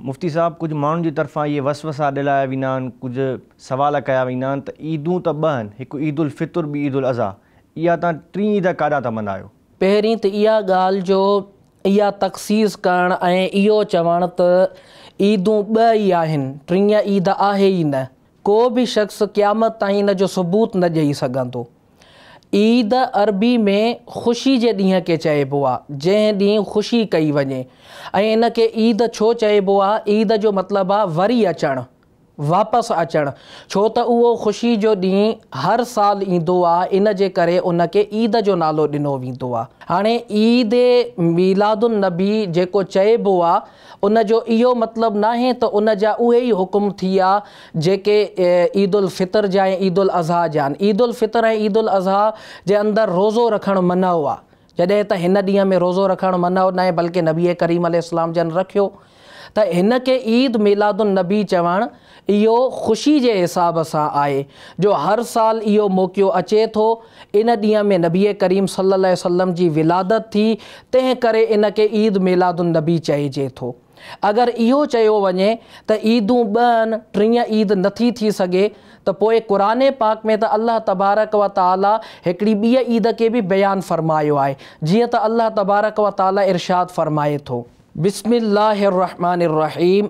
مفتي صاحب ڪجهه ماڻهن جي طرفان اهي وسوسا ڏلايا ويندا آهن ڪجهه سوال ڪيا ويندا آهن ته عيدون ته ٻه آهن هڪ عيد الفطر ٻي عيد الاضحيٰ اها تان ٽين عيد ڪاڏان ٿا ملهايو. پهرين ته اها ڳالهه جو اها تخصيص ڪرڻ ۽ اهو چوڻ ته عيدون ٻه ئي آهن ٽين عيد آهي ئي نه ڪو به شخص قيامت تائين ان جو ثبوت نه ڏئي سگهندو. عيد عربي ۾ خوشي جي ڏينهن کي چئبو آهي، جنهن ڏينهن خوشي ڪئي وڃي ۽ ان کي عيد ڇو چئبو آهي؟ عيد جو مطلب آهي وري اچڻ، واپس اچڻ، ڇو ته اهو خوشي جو ڏينهن هر سال ايندو آهي، ان جي ڪري ان کي عيد جو نالو ڏنو ويندو آهي. هاڻي عيد ميلاد النبي جيڪو چئبو آهي، ان جو اهو مطلب ناهي ته ان جا اهي ئي حڪم ٿيا جيڪي عيد الفطر جا ۽ عيد الاضحيٰ جا آهن. عيد الفطر ۽ عيد الاضحيٰ جي اندر روزو رکڻ منع آهي، جڏهن ته هن ڏينهن ۾ روزو رکڻ منع ناهي بلڪه نبي ڪريم عليه السلام جن رکيو ته هن کي عيد ميلاد النبي چوڻ اهو خوشي جي حساب سان آهي جو هر سال اهو موقعو اچي ٿو، ان ڏينهن ۾ نبي ڪريم صلي الله عليه وسلم جي ولادت ٿي، تنهن ڪري ان کي عيد ميلاد النبي چئجي ٿو. اگر اهو چيو وڃي ته عيدون ٻهن، ٽيهن عيد نٿي ٿي سگهي ته پوء قرآن پاڪ ۾ ته الله تبارڪ و تعاليٰ هڪڙي ٻيء عيد کي به بيان فرمايو آهي، جيئن ته الله تبارڪ و تعاليٰ ارشاد فرمائي ٿو. بسم الله الرحمٰن الرحيم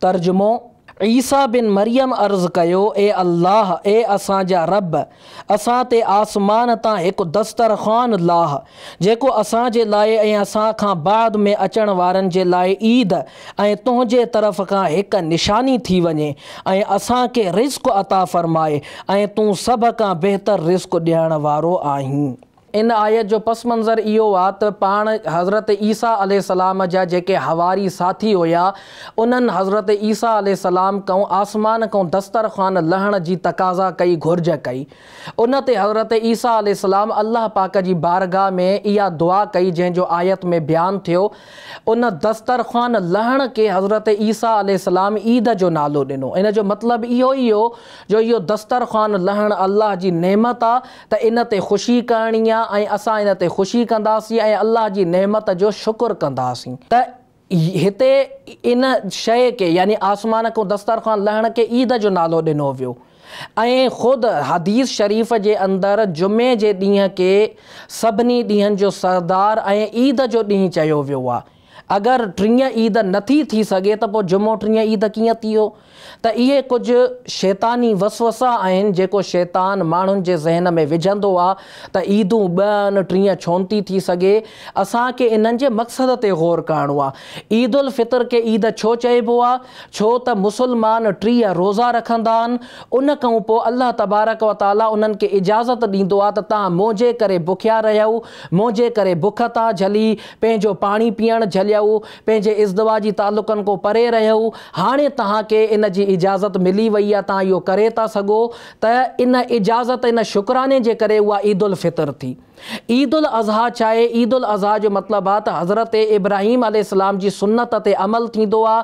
ترجمو، عيسيٰ بن مريم عرض ڪيو، اي الله! اي اسان جا رب! اسان تي آسمان تان هڪ دسترخوان لاهه، جيڪو اسان جي لاء ۽ اسان کان بعد ۾ اچڻ وارن جي لاء عيد ۽ تنهنجي طرف کان هڪ نشاني ٿي وڃي ۽ اسان کي رزق عطا فرماء ۽ تون سڀ کان بهتر رزق ڏيڻ وارو آهين. ان آيت جو پس منظر اهو آ ته پاڻ حضرت عيسيٰ عليه السلام جا جيڪي حواري ساٿي هيا انهن حضرت عيسيٰ عليه السلام ڪئون آسمان ڪئون دستر خوان لهڻ جي تقاضا ڪئي گهرج ڪئي ان تي حضرت عيسيٰ عليه السلام الله پاڪ جي بارگاھ ۾ اها دعا ڪئي جنهن جو آيت ۾ بيان ٿيو ان دستر خوان لهڻ کي حضرت عيسيٰ عليه السلام عيد جو نالو ڏنو ان جو مطلب اهو ئي هيو جو اهو دستر خوان لهڻ الله جي نعمت آ ته ان تي خوشي ڪرڻي آ ۽ اسان ان تي خوشي ڪنداسين ۽ الله جي نعمت جو شڪر ڪنداسين ته هتي ان شيء کي يعني آسمان کان دسترخوان لهڻ کي عيد جو نالو ڏنو ويو ۽ خود حديث شريف جي اندر جمعي جي ڏينهن کي سڀني ڏينهن جو سردار ۽ عيد جو ڏينهن چيو ويو آهي. اگر ٽينء عيد نه ٿي ٿي سگهي ته پوء جمعو ٽينء عيد ڪيئن ٿيو؟ ته اهي ڪجهه شيطاني وسوسا آهن جيڪو شيطان ماڻهن جي ذهن ۾ وجهندو آ ته عيدون ٻه آهن ٽينء ڇون ٿي ٿي سگهي؟ اسان کي انهن جي مقصد تي غور ڪرڻو آ. عيد الفطر کي عيد ڇو چئبو آ؟ ڇو ته مسلمان ٽيهه روزا رکندا آهن ان کئون پوء الله تبارڪ و تعالي انهن کي اجازت ڏيندو آ ته تهان منهنجي ڪري بکيا رهيؤ منهنجي ڪري بک ٿا جهلي پنهنجو پاڻي پيئڻ جهليو، پنهنجي ازدواجي تعلقن کون پري رهيو، هاڻي توهان کي ان جي اجازت ملي وئي آ، توهان اهو ڪري ٿا سگهو ته ان اجازت، ان شڪراني جي ڪري اها عيد الفطر ٿي. عيد الاضحيٰ ڇا آهي؟ عيد الاضحيٰ جو مطلب آ ته حضرت ابراهيم عليه السلام جي سنت تي عمل ٿيندو آ،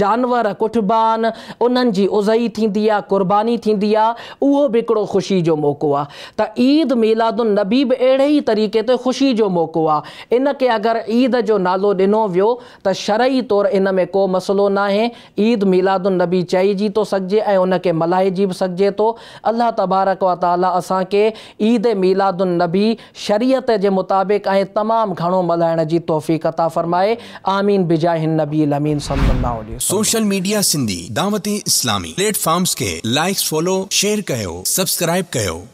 جانور ڪٽبا آهن، انهن جي اضحي ٿيندي آ، قرباني ٿيندي آ، اهو به هڪڙو خوشي جو موقعو آ. ته عيد ميلاد النبي به اهڙي ئي طريقي تي خوشي جو موقعو آهي، ان کي اگر عيد جو نالو ڏنو ويو ته شرعي طور ان ۾ ڪو مسئلو ناهي، عيد ميلاد النبي چئجي ٿو سگهجي ۽ ان کي ملهائجي به سگهجي ٿو، الله تبارڪ و تعاليٰ اسان کي عيد ميلاد النبي شريعت جي مطابق ۽ تمام گهڻو ملهائڻ جي توفيق عطا فرمائي، آمين بجاه النبي الامين صلي الله عليه وسلم. Social media Sindhi Dawat Islami platforms کي لائيڪس فالو شيئر ڪيو سبسڪرائيب ڪيو.